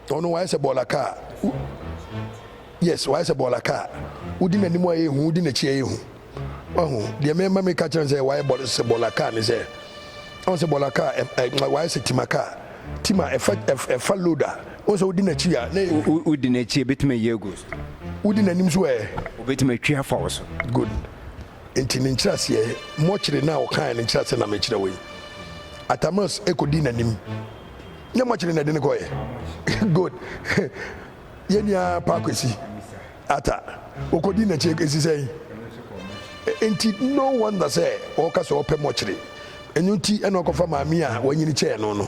ɔno wayɛ sɛ bɔɔla kaa yes wayɛ sɛ bɔɔla kaa wodi n'anim a yɛhu wodi n'akyi a yɛhu wahu deɛ mɛma mi ka kyerɛ sɛ wayɛ bɔɔla sɛ bɔɔla kaa ne sɛ ɔn sɛ bɔɔla kaa ɛ ɛ wayɛ sɛ tima kaa tima ɛfa ɛfa load a ɔn sɛ wodi n'akyi a ne wodi n'akyi ebetumi ayɛ egu so wodi n'anim so ɛ obetumi atwi afa wɔ so good nti ne nkyerɛaseɛ mɔkyere no a ɔkae ne nkyerɛaseɛ na mekyerɛ wei atamas ɛkɔdi n'anim nyɛ mo akyire na ɛde no kɔɛ good yɛ nua pa kwesi ata okodi n'akyi esi sɛn nti no wonder sɛ ɔka sɛ ɔpɛ mo akyire ɛno nti ɛna ɔkɔfa maame a wanyini kyɛɛ no no.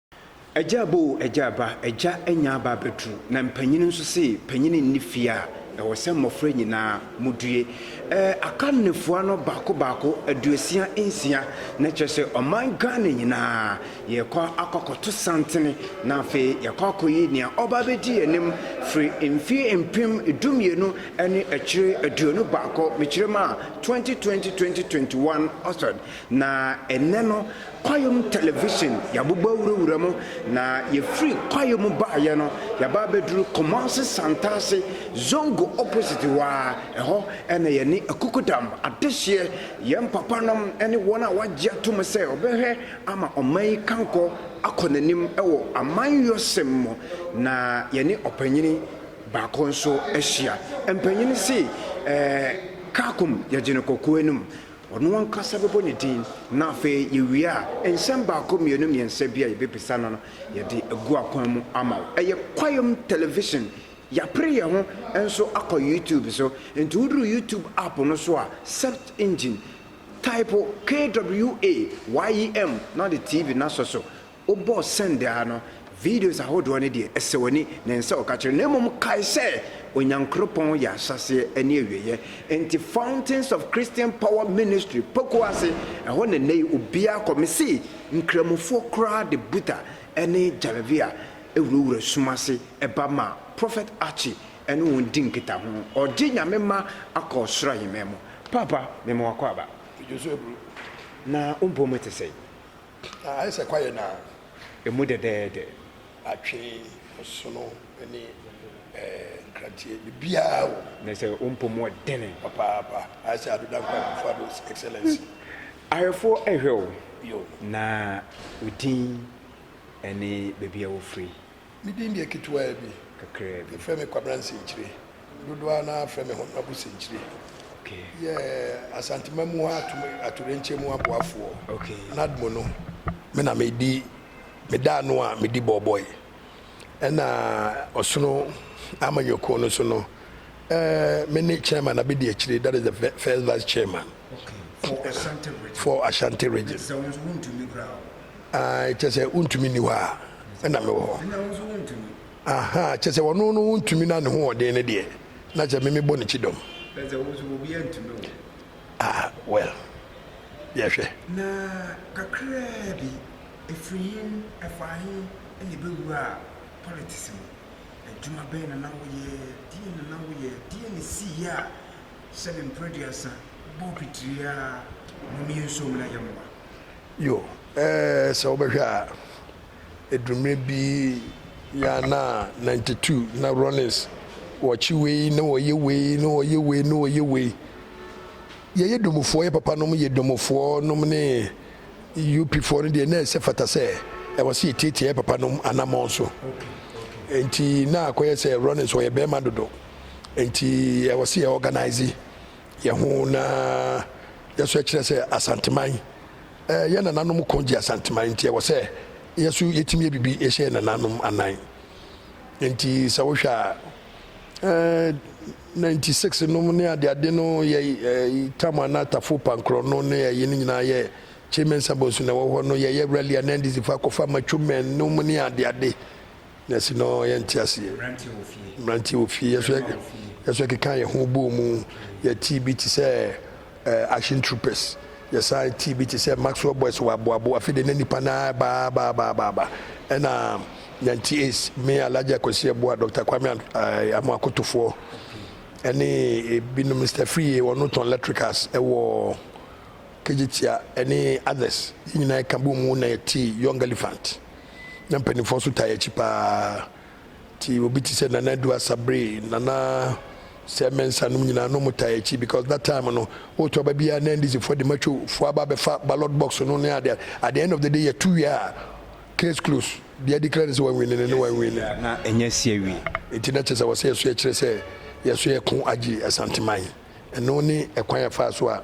Agya aba o, agya aba, agya anya aba abɛduru, na mpanyini nso se panyini nni fie a, ɛwɔ sɛ mmɔfra nyinaa modue. Ɛɛ akannefoa no baako baako, aduosia nsia, na kyerɛ sɛ ɔman Ghana nyinaa, yɛrekɔ akɔ akɔto santene, na afei yɛakɔ akɔyi nea ɔba abɛdi yɛn anim firi mfeɛ mpem du mmienu ne akyire aduonu baako, mekyerɛ mu a, 2020, 2021 Oxford, na ɛnnɛ no, Kwaeɛ mu television, yɛabobɔ awurawura mu, na yɛfiri kwaeɛ mu baeɛ no, yɛaba abɛduru Kumasi Santase, Zongo opposite hɔ ara, ɛhɔ na yɛne Akukudam, Adehyeɛ, yɛn papanom ne wɔn a wɔagye atom sɛ wɔbɛhwɛ ama ɔman yi kankɔ akɔ n'anim wɔ amanyɔsɛm mu, na yɛne ɔpanyini baako nso ahyia. Mpanyin se, Ɛɛ, Kaakum, yɛgye no kɔkɔɔ anum. Ɔno ankasa bɛbɔ ne din, na afei yɛwie a, nsɛm baako, mmienu, mmiɛnsa bi a yɛbɛbisa no no, yɛde agu akwan mu ama wo. Ɛyɛ Kwayom Television. Yɛapere yɛn ho nso akɔ YouTube so. Enti woduru YouTube app no so a, search engine, taipo KWAYM na wode TV no asɔ so. Wobɔ sɛn daa no, videos ahodoɔ no deɛ, ɛsɛ w'ani, na ɛnsɛ sɛ ɔka kyerɛ, na mmom kae sɛ Onyankoropɔn yɛ ahyɛaseɛ ne awieɛ. Enti Fountains of Christian Power Ministry, Poku ase, ɛhɔ na nnɛyi obiara kɔ. Mese Nkramofoɔ koraa de Buta ne Jalavia wurawura sum ase ba ma Prophet Archie ɛne wɔn di nkitaho. Ɔgye Nyame mma akɔ Ɔsoro Ahemman mu. Paapa, mema wakɔ aba. Dwoso aburo. Na wo mpɔmu te sɛn? Na ayɛ sɛ kwaeɛ no ara. Ɛmu dɛdɛɛdɛ. Atwe, ɔsono ne nkranteɛ, biribiara wɔ mu. Na sɛ ɔmpɔ mu ɔdene. Papaapa, ayɛ sɛ Ado Dankwa Akufo-Addo's Excellency. Ahwɛfoɔ rehwɛ wo. Yo. Na wo din ne baabi a wofiri. Me din deɛ ketewaa bi. Kakraa bi. Yɛfrɛ me Kwabena Nsɛnkyire. Dodoɔ ara no ara frɛ me Honourable Sɛnkyire. Okay. Yɛ Asanteman mu hɔ atom atoyerɛnkyɛm mu aboafoɔ. Okay. NADMO no, me na medi, meda ano a medi bɔɔbɔe. Ɛna ɔsono amanyɔkuo no so no, eh, me ne Chairman Abedi Akyire, that is the fir- first Vice Chairman Okay. For Ashanti region. for Ashanti region. Sɛ wo nso wontumi koraa o. Aah kyerɛ sɛ wontumi nni hɔ a na mewɔ hɔ. Ɛnna wo nso wontumi. Ahaa kyerɛ sɛ ɔno no wontumi na ne hoɔden no deɛ na kyerɛ me mebɔ ne kyidɔm. Kyerɛ sɛ wo nso obiara ntumi wo. Ah well yɛhwɛ. Na kakraa bi ɛfiri he ɛfaa he na yɛbɛwuraa politics mu. Adwuma bɛn na na woyɛ, deɛn na na woyɛ, deɛn na ɛsiiɛ a sɛbe mprɛduasa bɔɔ pitiri ara na ɔne yɛ nsuom na yɛmmoa. Yo, eh, sɛ wobɛhwɛ a, ɛduru mmerɛ bi yɛ a na ninety two na Rollins wɔkye wei na wɔyɛ wei na wɔyɛ wei na wɔyɛ wei. Yɛyɛ domofoɔ, yɛ papa nom yɛ domofoɔ nom ne UP foɔ no deɛ na ɛsɛ fata sɛ ɛwɔ sɛ yɛtiatia yɛ papa nom anamɔn so. Nti na akɔyɛ sɛ Rollins wɔyɛ bɛrima dodo. Nti ɛwɔ sɛ yɛ organise. yɛn ho na yɛn so kyerɛ sɛ Asanteman yɛ nananom ko gye Asanteman nti ɛwɔ sɛ yɛn so yɛtumi yɛ biribi yɛhyɛ yɛn nananom anan nti sɛ wohwɛ a 96 nom ne adeade no yɛ tam ana tafo pankorɔ no ne ɛyi no nyinaa yɛ kyemensa bonsu na ɛwɔ hɔ no yɛyɛ rally a na ndc fa akɔfa matwomɛn nom ne adeade Nɛɛse no yɛ nteaseɛ. Mmeranteɛ wɔ fie. Yɛso yɛkekaa yɛn ho bɔɔ mu. Yɛtee bi te sɛ Action Troopers. Yɛsan tee bi te sɛ Maxwell Boys wɔ Aboabo. Afei deɛ na nnipa no ara reba ara ba ba ba ba. Ɛna Nyanti Ace, me Alhaji Akwasi Abua, Dɔkta Kwame Amoah Kotofoɔ ɛne ebinom, Mister Friye, wɔn no tɔn electricals ɛwɔ Kegyetia ɛne others. Yɛn nyinaa yɛka bɔɔ mu na yɛtee Young Elephant. na mpanimfoɔ nso taa akyi paa nti obi te sɛ nana adu asabre nana sɛ mɛnsa nom nyinaa no taa akyi because that time no wotu aba biara na ndcfoɔ de matwofoɔ aba abɛfa ballot box no ne adeɛ at the end of the day yɛtu wie a case close deɛ declare ne sɛ wanwini ne ne wanwini na ɛnyɛ si awie nti na kyerɛ sɛ wɔsɛ yɛso yɛkyerɛ sɛ yɛso yɛko agye asanteman ɛno ne ɛkwan yɛfaa so a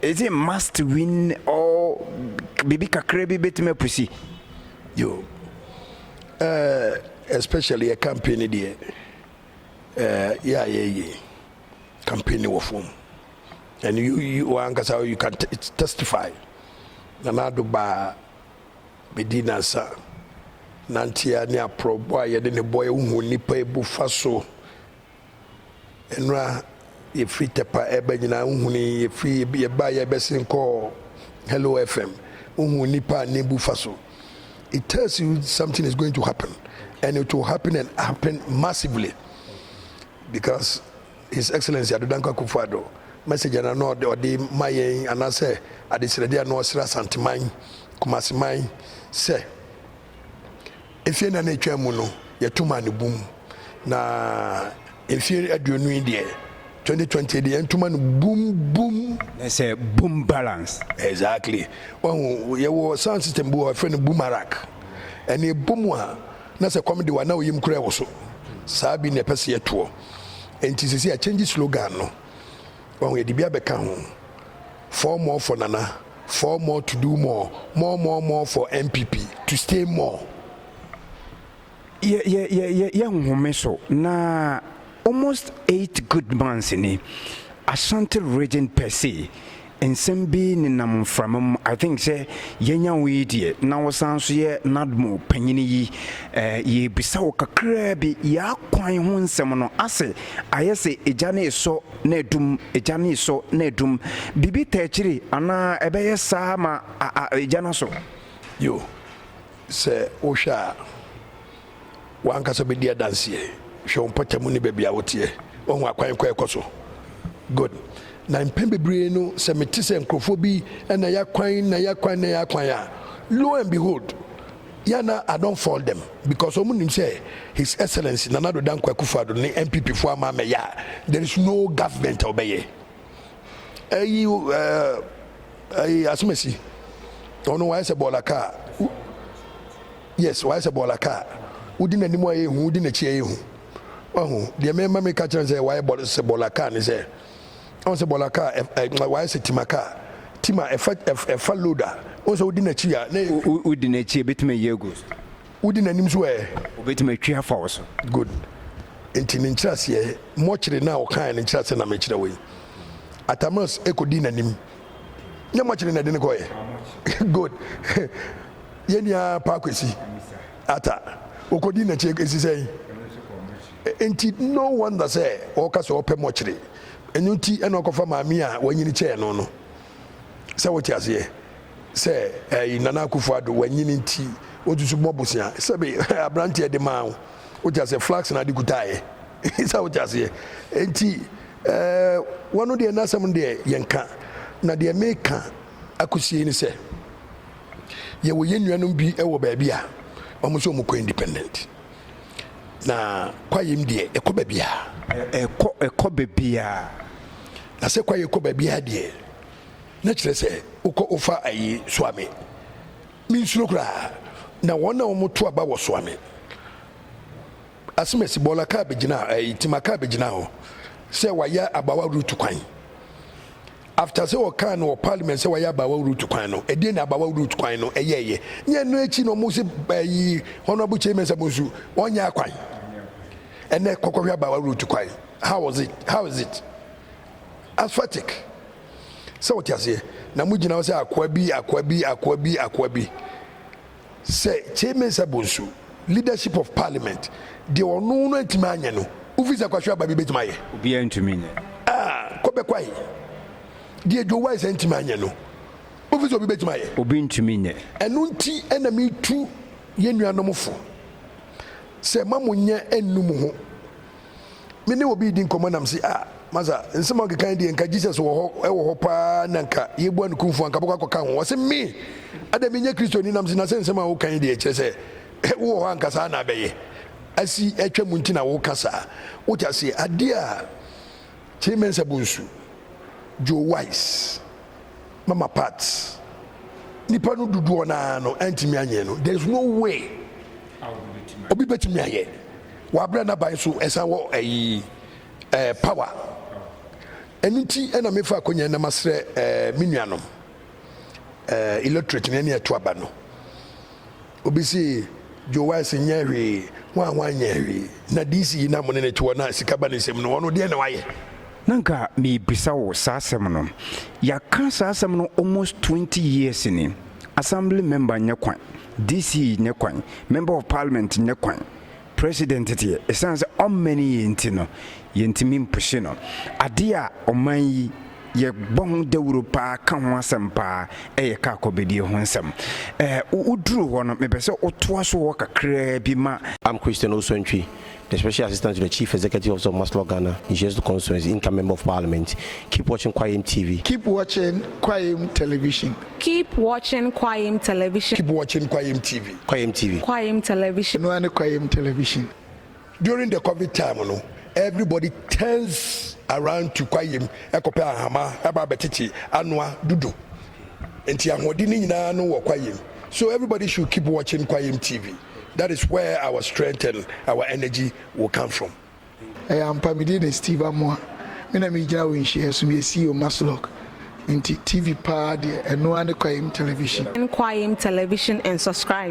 Is it must win or biribi kakra bi bɛtumi apusi? Yo, uh, especially yɛ campaign no deɛ uh, yɛ a yɛyɛ campaign no wɔ fam and you, you ankasa you can testify Nana Addo baa bɛdi nansa nanteɛ ne aporɔbɔ a yɛde ne bɔɛ wohu nnipa ebu fa so Nora, yɛfiri Tɛpa ɛba nyinaa wohuni yɛfiri yɛba yɛbɛsen kɔɔ Hello FM wohuu nipa a nebu fa so it tells you something is going to happen and it will happen and happen massively because His Excellency Adodankwa Akufo Addo message na na ɔde ɔde ma yɛn anaasɛ adesrɛde a na ɔsrɛ Asanteman Kumaseman sɛ Mfeɛ nnan a ɛtwaa mu no, yɛto maa no bum, na mfeɛ aduonu yi deɛ, 2020 deɛ, yɛnto ma no bum bum. Na sɛ bum balance. Exactly. Wahu, yɛwɔ sound system bi wɔ hɔ, yɛfrɛ no boomarak. Ɛno ɛbɔ mu a, na sɛ kɔm de wo a, na wo yam kura wo so. Saa bi na yɛpɛ sɛ yɛtoɔ. Enti seesei yɛakyɛngye slogan no. Wahu, yɛde bi abɛka ho, Four more for Nana. Four more to do more More more more for NPP to stay more. Yɛ yɛ yɛ yɛ yɛ nhome so na almost eight good months ni Ashanti region per se nsɛm bi nenam mframa mu I think sɛ yɛanya wo yi deɛ na wo san nso yɛ NADMO panyini yi eh, yɛrebisa wo kakraa bi yɛakwan ho nsɛm no ase ayɛ sɛ egya no resɔ na adum, egya no resɔ na adum. Biribi ta akyiri anaa ɛbɛyɛ saa ma a a egya no asɔ. Yo, sɛ wohwɛ a, w'ankasa bɛdi adanseɛ. Hwɛ wo mpɔtamu ne baabi a woteɛ. Woahu akwan kɔ a ɛkɔ so? Good. Na mpɛn bebree no, sɛ mete sɛ nkurɔfoɔ bi na yɛakwan na yɛakwan na yɛakwan a, lo and behold, Yeah na I don't fault them because ɔmo nim sɛ His Excellency Nana Addo Dankwa Akufo-Addo ne NPP foɔ ama amɛyɛ a there is no government a ɔbɛyɛ. Ɛyi ɛɛ ɛyi Asomasi ɔno wayɛ sɛ bɔɔla kaa yes wayɛ sɛ bɔɔla kaa wodi n'anim a yɛhu wodi n'akyi a yɛhu wahu deɛ mɛma meka kyerɛ no sɛ wayɛ bɔɔla sɛ bɔɔla kaa ne sɛ Wohu sɛ bɔɔla kaa ɛ ɛ ma wayɛ sɛ tima kaa. Tim a ɛfa ɛ ɛ ɛfa load a, wohu sɛ wodi n'akyi a, na ɛyɛ fi. Wo wodi n'akyi a, ebetumi ayɛ agu wo so. Wodi n'anim nso ɛ? Obetumi atwi afa wo so. Good. Enti ne nkyerɛaseɛ, mɔkyere no a ɔkaeɛ no nkyerɛaseɛ na mekyerɛ wo yi. Atamus kɔdii n'anim. Nyɛ mɔkyere na ɛde no kɔeɛ? Good. Yɛn nua Pa Kwesi Arthur, ɔkɔdii n'akyi, ɛsi sɛn? Enti no wonder sɛ ɔka sɛ ɔpɛ mɔkyere. Ɛno nti na ɔkɔfa maame a wanyini kyɛɛ no no. Sɛ wote aseɛ sɛ ɛɛ Nana Akufo-Addo wanyini nti wotu so bɔ bosea. Sɛbe abranteɛ de maa wo, wote aseɛ, flax na ade kutaeɛ. Sɛ wote aseɛ. Enti ɛɛ wɔno deɛ n'asɛm no deɛ yɛnka. Na deɛ meka akosie yi ne sɛ, yɛwɔ yɛn nuanom bi wɔ baabi a wɔn nso wɔkɔ independent. Na kwaeɛm deɛ ɛkɔ baabiara. Ɛkɔ ɛkɔ baabiara. Na sɛ kwaeɛ kɔ baabiara deɛ na kyerɛ sɛ wokɔ wofa ayi soame mensuro koraa na wɔn a wɔn to aba wɔ soame asemasi bɔɔla kaa bɛgyina ɛyi tima kaa bɛgyina hɔ sɛ wayɛ abawa route kwan After sɛ wɔkaa no wɔ parliament sɛ wayɛ abaawa route kwan no, ɛdeɛn na abaawa route kwan no ɛyɛɛyɛ? Ne ɛno akyi no wɔn se ɛyi honourable chairman sɛ bonsu ɔnyɛ akwan. Ɛnɛ kɔkɔhwɛ abaawa route kwan how was it how is it asphaltic sɛ wote aseɛ na mo gyina hɔ sɛ akoa bi akoa bi akoa bi akoa bi Sɛ Kyei Mensah Bonsu, Leadership of Parliament, deɛ ɔno no antumi anyɛ no, wofi sɛ Kwahyo Agbabi bɛtumi ayɛ? Obiara ntumi nyɛ. Ah, Kɔbɛ Kwahi, deɛ Joe Wise antumi anyɛ no, wofi sɛ obi bɛtumi ayɛ? Obi ntumi nyɛ. Ɛno nti na metu yɛn nuanom fo sɛ mma mo nyɛ nnu mo ho Me ne obi redi nkɔmmɔ na mese, Ah, Masa, nsɛm a worekeka yi deɛ, anka Jesus wɔ hɔ, wɔ hɔ paa na anka yɛbua no kumfɔ, anka bɛkɔ akɔka ho. Ɔse, Me? Adɛn, menyɛ Kristoni? Na mese, Na sɛ nsɛm a woreka yi deɛ, kyerɛ sɛ wowɔ hɔ a, anka saa na abɛyɛ. Asi atwa mu nti na woreka saa. Wote aseɛ? Adeɛ a Kyerɛ Mensa Bonsu, Joe Weiss. Mama Pat, nnipa no dodoɔ no ara no antumi anyɛ no. There is no way obi bɛtumi ayɛ. Wabrɛ n'aban so ɛsan wɔ ayi ɛɛ eh, power. Ɛno nti ɛna mefa akɔnya na masrɛ ɛɛ eh, me nuanom ɛɛ eh, electorate ne ɛne ɛto aba no. Obi se Joe Wise nyɛɛ hwee, ho a ho anyɛɛ hwee. Na DC yi no a mo ne no te hɔ na sika ba ne nsam no, ɔno deɛn na wayɛ? Na nka merebisa wo saa asɛm no. Yɛaka saa asɛm no almost twenty years ni. Assembly member nyɛ kwan, DC nyɛ kwan, member of parliament nyɛ kwan. President deɛ ɛsiane sɛ ɔmmɛne yɛn nti no yɛntumi mpushe no. Adeɛ a ɔman yi yɛbɔ ho dawuro paa ka ho asɛm paa yɛ kaa kɔbedie ho nsɛm. Ɛɛ woduru hɔ no mepɛ sɛ wotoa so hɔ kakraa bi ma. I'm Christian Osuantwi, the Special Assistant to the Chief Executive Officer of Maslok Ghana, Nhyeriesu Constituency, Income Member of Parliament. Keep watching Kwayem TV. Keep watching Kwayem Television. Keep watching Kwayim Television. Keep watching Kwayim TV. Kwayim TV. Kwayim Television. Ɛno ara ne Kwayim Television. During the covid time no, everybody turns around to Kwayim ɛkɔpɛ ahama ɛba abɛtete anoa dudu. Nti ahoɔden no nyinaa no wɔ Kwayim. So everybody should keep watching Kwayim TV. That is where our strength and our energy will come from. Ɛyɛ ampa, me din de Steve Amoah, me na megyina wɔ nhyiaɛ so, meyɛ CEO Maslog, nti TV paa deɛ ɛno ara ne Kwayem Television. Join Kwayem Television and subscribe.